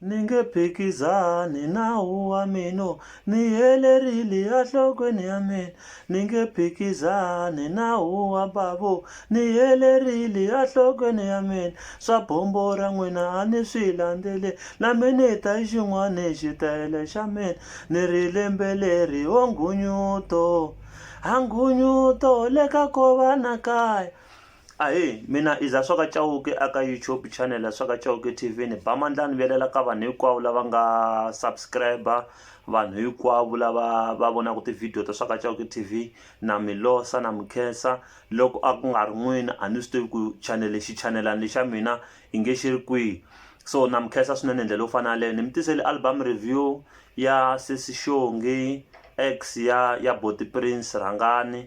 ni nge phikizani nawu wa mina ni helerile enhlokweni ya mina ni nge phikizani nawu wa bavo ni helerile enhlokweni ya mina swa bombo ra n'wina a ni swi landzele na mina ta yi xin'wana hi xitayele xa mina ni ri lembe leri o nghunyuto a nghunyuto le ka kova na kaya Ahee, mina i Zaswaka Chauke a ka YouTube channel ya Swaka Chauke TV ni ba mandla ni velela ka vanhu hinkwavo lava nga subscriber vanhu hinkwavo lava va vonaka tivhidiyo ta Swaka Chauke TV na mi losa na mi khensa loko a ku nga ri n'wini a ni swi tivi ku channel lexi chanelani lexa mina i nge xi ri kwihi so na mi khensa swinene hi ndlela yo fana yaleyo ni mi tisele album review ya sesi xongi ex ya ya boti prince rhangani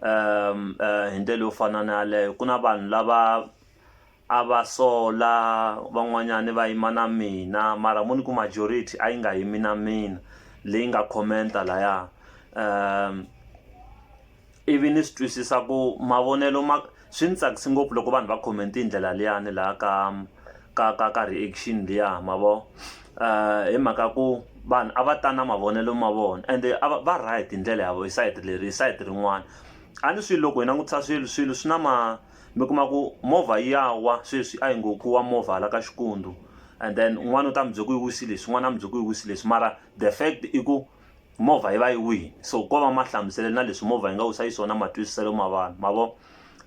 hi ndlela yo fana na yaleyo ku na vanhu lava a va sola van'wanyani va yima na mina mara mo ni ku majority a yi nga yimi na mina leyi nga comment-a laya ivi ni swi twisisa ku mavonelo ma. Swi ndzi tsakisi ngopfu loko vanhu va comment hi ndlela liyani laha ka ka ka ka reaction liya ma vo hi mhaka ya ku vanhu a va ta na mavonelo ma vona and a va va right hi ndlela ya vona hi sayiti leri hi sayiti rin'wana a ni swi loko hi langutisa swilo swilo swi na ma mi kuma ku movha yi ya wa sweswi a yi ngo ku wa movha hala ka Xikwembu and then un'wana u ta mi byela ku yi wisi leswi un'wana a mi byela ku yi wisi leswi mara the fact i ku Movha yi va yi wini so ko va mahlamuselo na leswi movha yi nga wisa xiswona matwisiselo ma vanhu ma vo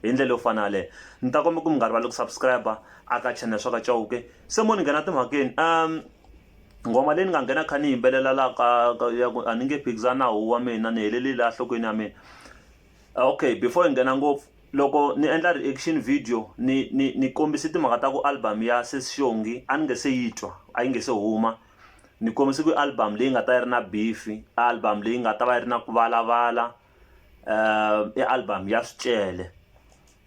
hi ndlela yo fana yaleyo ni ta komba ku mi nga rivali ku subscribe a ka channel swa ka Chauke se mo ni nghena timhakeni um nghoma leyi ni nga nghena kha ni yimbelela la ka ya ku a ni nge phikizana hu wa mina ni helelile la nhlokweni ya mina okay before hi nghena ngopfu loko ni endla reaction video ni ni ni kombise timhaka ta ku album ya sesi xongi a ni nge se yi twa a yi nge se huma ni kombise ku i album leyi nga ta yi ri na beef i album leyi nga ta va yi ri na ku valavala i album ya swicele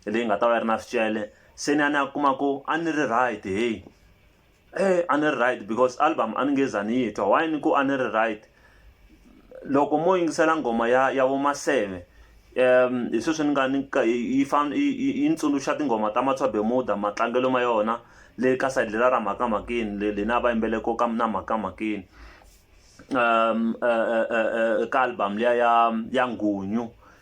leyi nga ta va yi ri na swicele se ni ya ni ya kuma ku a ni ri right heyi a ni ri right because album a ni nge za ni yi twa why ni ku a ni ri right loko mo yingisela nghoma ya ya vo maseve um hi sweswi ni nga ni yi fane yi ni tsundzuxa tinghoma ta Matswa Bermuda matlangelo ma yona le ka side leriya ra mhakamakeni le lena a va yimbele ko ka na mhakamakeni ka album liya ya ya nghunyu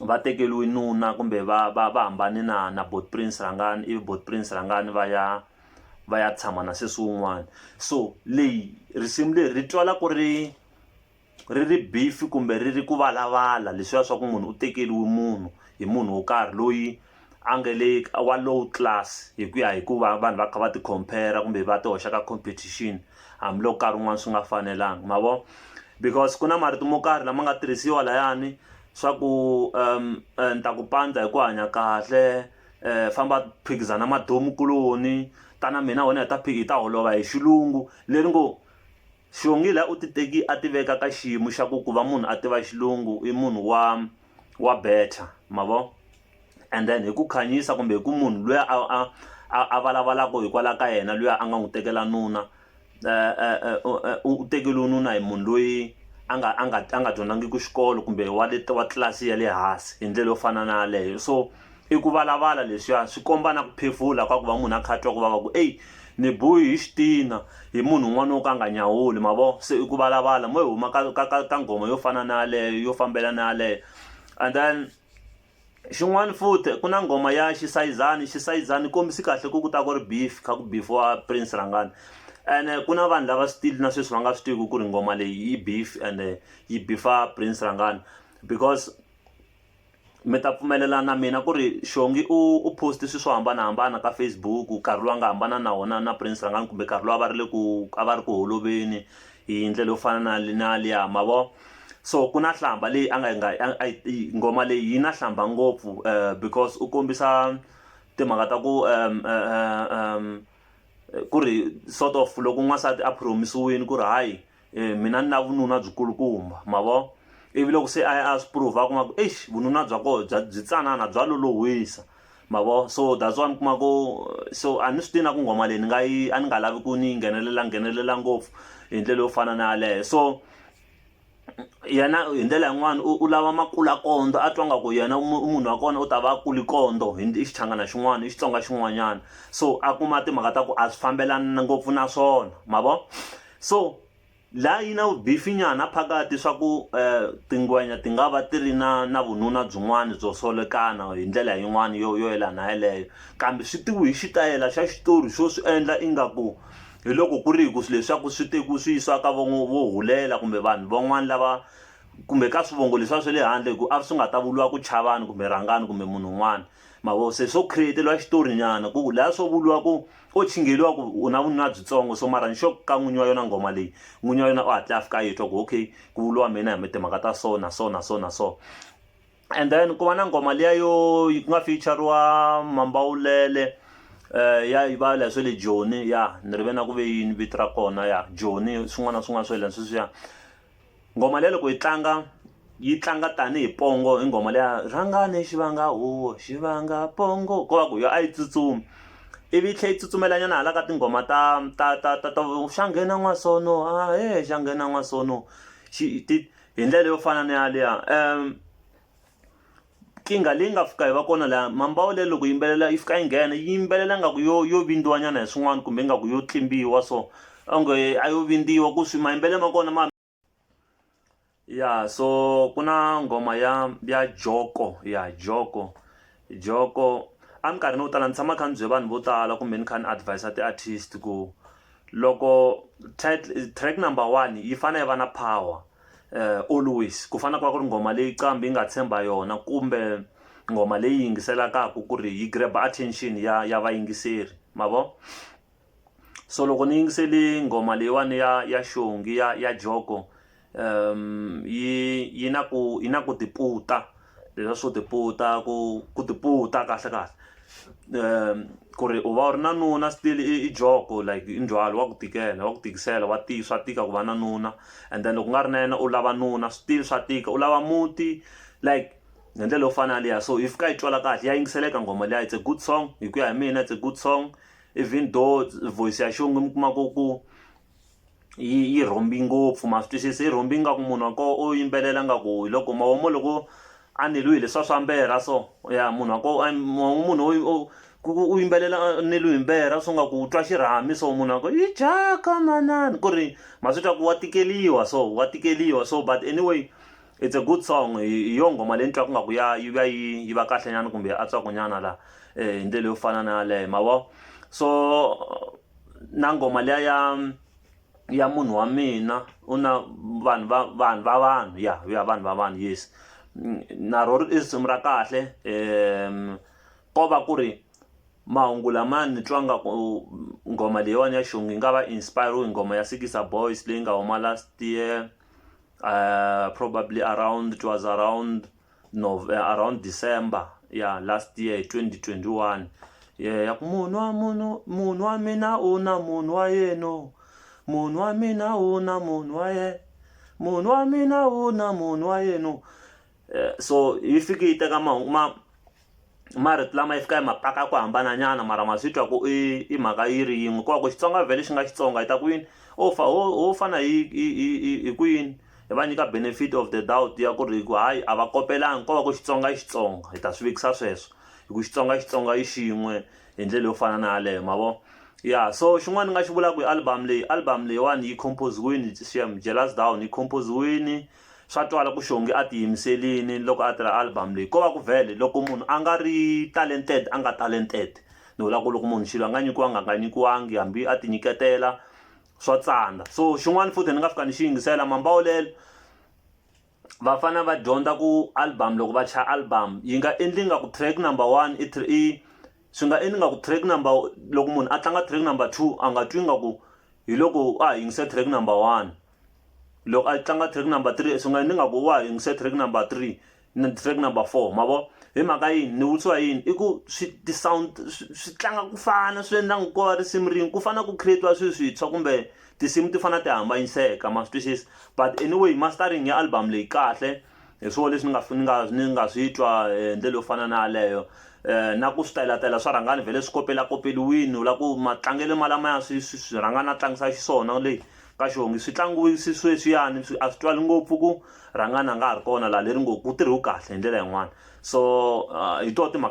va tekeriwe nuna kumbe va va va hambane na na buti prince rhangani ivi buti prince rhangani va ya va ya tshama na sesi wun'wana so leyi risimu leri ri twala ku ri ri ri beef kumbe ri ri ku valavala leswiya swa ku munhu u tekeriwe munhu hi munhu wo karhi loyi a nge le ka wa low class hi ku ya hi ku va vanhu va kha va ti compare kumbe va ti hoxa ka competition hambiloko nkarhi wun'wani swi nga fanelanga ma vo because ku na marito mo karhi lama nga tirhisiwa layani swa ku um ni ta ku pandza hi ku hanya kahle um famba phikizana madyomukuloni tana mina wena hi ta hi ta holova hi xilungu leri ngo Xihongi la u ti teki a ti veka ka xiyimo xa ku ku va munhu a tiva xilungu i munhu wa wa better ma vo and then hi ku khanyisa kumbe hi ku munhu luya a a a a valavalaka hikwalaho ka yena luya a nga n'wi tekela nuna u tekeriwe nuna hi munhu loyi a nga a nga a nga dyondzangiki xikolo kumbe wa le wa tlilasi ya le hansi hi ndlela yo fana na yaleyo so I ku valavala leswiya swi komba na ku phefula ka ku va munhu a kha a twa ku vava ku eyi ni biwe hi xitina hi munhu un'wana wo ka a nga nyawuli ma vo se i ku valavala mo yi huma ka ka ka ka nghoma yo fana na yaleyo yo fambela na yaleyo and then xin'wana futhi ku na nghoma ya xisayizani xisayizana yi kombisa kahle ku ku ta ku ri beef kha ku beef-iwa Prince Rhangani ene ku na vanhu lava still na sweswi va nga swi tiviku ku ri nghoma leyi i beef ende yi beef-a Prince Rhangani because. mi ta pfumelela na mina ku ri xongi u u post swilo swo hambanahambana ka Facebook nkarhi lowu a nga hambana na wona na prince rhangani kumbe nkarhi lowu a va ri le ku a va ri ku holoveli hi ndlela yo fana na na liya ma vo so ku na nhlamba leyi a nga yi nga yi nghoma leyi yi na nhlamba ngopfu because u kombisa timhaka ta ku ku ri sort of loko n'wansati a promise-wini ku ri hayi e mina ni na vununa byi kulukumba ma vo ivi loko se a a swi prove a kuma ku eish vununa bya koho bya byi tsanana bya lolohwisa ma vo so that's why mi kuma ku so a ni swi tina ku nghoma leyi ni nga yi a ni nga lavi ku ni nghenelela nghenelela ngopfu hi ndlela yo fana na yaleyo so yena hi ndlela yin'wana u lava makula kondo a twa nga ku yena munhu wa kona u ta va a kuli kondo hi i xichangana xin'wana i xitsonga xin'wanyana so a kuma timhaka ta ku a swi fambelani ngopfu na swona ma vo So la yi na vubifinyana phakati swa ku eh, tingwenya ti nga va ti ri na na vununa byin'wana byo solekana hi ndlela yin'wana yo yo yelana yeleyo kambe swi tiwi hi xitayela xa xitori xo swi endla ingaku hi loko ku ri hi ku swilo leswaku swi tekiwi swi yisiwa ka vo vo hulela kumbe vanhu van'wana lava kumbe ka swivongo leswiya swa le handle hi ku a ri swi nga ta vuriwa ku chavani kumbe rhangani kumbe munhu un'wana mavo se swo create-eliwa xitorinyana ku laha swo vuriwa ku O chingeliwa ku u na vununa byitsongo so mara nxo ka n'winyi wa yona nghoma leyi, n'winyi wa yona u hatle a fika a yi twa ku okay ku vuriwa mina hi timhaka ta so na so na so na so. And then ku va na nghoma liya yo ku nga feature-riwa Mambawulele ya va leswi swa le Joni ya ni ri ve na ku ve yini vito ra kona ya Joni swin'wana na swin'wana swa yena sweswiya. Nghoma leyi loko yi tlanga yi tlanga tanihi pongo i nghoma leya rhangani xi vanga huwa xi vanga pongo ko va ku yo a yi tsutsumi ivi yi tlhela yi tsutsumela nyana hala ka tinghoma ta ta ta ta ta xa nghena n'wasono a he xa nghena n'wasono xi ti hi ndlela yo fana na yaliya . Nkingha leyi nga fika yi va kona laha mambawu leyi loko yimbelela yi fika yi nghena yi yimbelela ngaku yo yo vindziwa nyana hi swin'wana kumbe ingaku yo tlimbiwa so onge a yo vindziwa ku swi mayimbele ma kona ma ya so ku na nghoma ya ya joko ya joko joko eminkarhini yo tala ni tshama kha ni bye vanhu vo tala kumbe ni kha ni advis-a ti-artist ku loko track number one yi fane yi va na power. uh, always ku fana ku va ku ri nghoma leyi qambi yi nga tshemba yona kumbe nghoma leyi yingiselakaka ku ri yi grab attention ya ya vayingiseri ma vo so loko ni yingiseli nghoma leyiwani ya ya xongi ya ya joko um yi yi na ku yi na ku tiputa leswa swo tiputa ku ku tiputa kahle kahle ku ri u va u ri na nuna still i joko like i ndzhwalo wa ku tikela wa ku tikisela wa tika swa tika ku va na nuna and then loko u nga ri na yena u lava nuna still swa tika u lava muti like hi ndlela yo fana na liya so if ka yi twala kahle ya yingiseleka nghoma liya it's a good song hi ku ya hi mina it's a good song even though voice ya xinuna mi kuma ku ku. yi yi rhombi ngopfu ma swi twisisa yi rhombi ingaku munhu wa koho o yimbelela nga ku hi loko mavomo loko a neliwe hi leswiya swa mberha so ya munhu wa koho munhu ku ku u yimbelela a neliwe hi mberha swi nga ku u twa xirhami so munhu wa ku yi dyaka manana ku ri ma swi twa ku wa tikeliwa so wa tikeliwa so but anyway it's a good song hi hi yo nghoma leyi ni twaku nga ku ya yi va yi yi va kahle nyana kumbe ya antswaku nyana la hi ndlela yo fana na yaleyo ma vo so. na nghoma liya ya ya munhu wa mina u na vanhu va vanhu va vanhu ya ya vanhu va vanhu yes na ro i risimu ra kahle um ko va ku ri mahungu lama ni twa nga ku nghoma leyiwani ya xongi yi nga va inspire hi nghoma ya sikisa boys leyi nga huma last year uh probably around it was around around December ya last year 2021 yeah, ya ku munhu wa munhu munhu wa mina u na munhu wa yenu munhu wa mina u na munhu wa yena munhu wa mina u na munhu wa yenu eh, so yi fike yi teka mahungu ma marito lama yi fika yi ma paka ya ku hambananyana mara ma swi twa ku i i mhaka yi ri yin'we ku va ku xitsonga vhele xi nga xitsonga yi ta ku yini o fa ho ho fana hi hi hi hi hi ku yini hi va nyika benefit of the doubt ya ku ri hi ku hayi a va kopelangi ko va ku xitsonga i xitsonga hi ta swi vekisa sweswo hi ku xitsonga xitsonga i xin'we hi ndlela yo fana na yaleyo ma vo ya so xin'wana ni nga xi vulaka hi album leyi album leyiwani yi compose-wini xem jealous down yi compose-wini Swa twala ku Shongi a tiyimiselini loko a tirha album leyi. Ko va ku vhele loko munhu a nga ri talented a nga talented. Ni vula ku loko munhu xilo a nga nyikiwanga a nga nyikiwangi hambi a tinyiketela swa tsandza. So xin'wana futhi ni nga fika ni xi yingisela Mambawulelo va fane va dyondza ku album loko va chaya album yi nga endli nga ku track number one i i swi nga endli nga ku track number loko munhu a tlanga track number two a nga twi nga ku hi loko a ha yingise track number one. loko a tlanga track number three swi nga ni nga ku wa yingise track number three na track number four ma vo hi mhaka yini ni vutisiwa yini i ku swi ti-sound swi tlanga ku fana swi endla ngo ko va risimu rin'we ku fana ku create-iwa swilo swintshwa kumbe tinsimu ti fana ti hambanyiseka ma swi twisisa but anyway mastering ya album leyi kahle hi swona leswi ni nga ni nga ni nga swi twa hi eh, ndlela yo fana na yaleyo um na ku switelatela swa rhangani vhele swi kopelakopeliwini u lava ku matlangelo malamaya swi swi rhangana a tlangisa xiswona leyi ka xongi swi tlangiwi swi sweswiyani swi a swi twali ngopfu ku rhangani a nga ha ri kona laha leri ngo ku tirhiwe kahle hi ndlela yin'wana so hi tona timhaka.